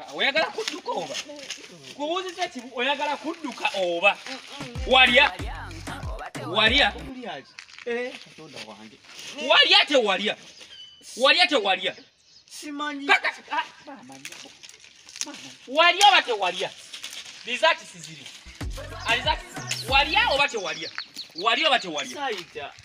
Ah, oyagala kudduka oba kubuuziza ki oyagala kudduka oba walya walya eh, walya tewalya walya tewalya ah, walya oba tewalya lizakisiziri alizaki walya oba tewalya walya oba tewalya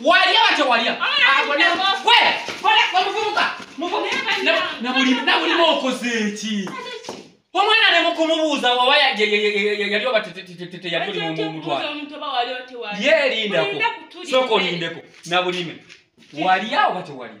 Walya batya walya? Nabulima okoze ki? Omwana ne mukumubuuza oba yali oba teyali oli mutwala. Yeerindako. Sooka olindeko. Nabulime. Walya oba tewalya?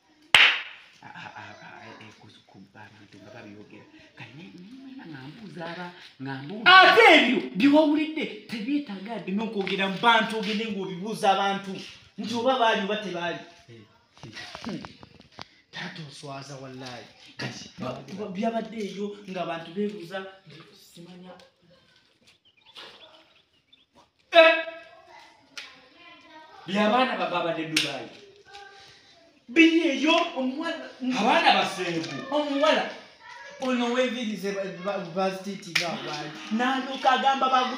ate ebyo byewawulidde tebyetaaga dde nokwogera mu bantu ogende ngaobibuuza abantu nti oba baali oba tebaali eh, eh. taata oswaza wallayi kati byabadde eyo ngaabantu bebuuza simanya byabaana bababadde dubayi biri eyo omuwala abaana basengu omuwala ono wevirize bazititiga abantu nalyoka agamba bagu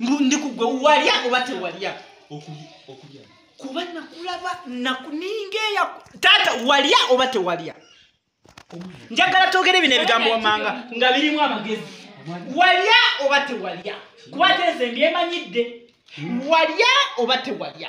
ndi kugwe walya oba tewalya okulya kuba nakulaba nakuninga eya taata walya oba tewalya njagala togere bino ebigambo wamanga nga birimu amagezi walya oba tewalya kuba teeze mbyemanyidde walya oba tewalya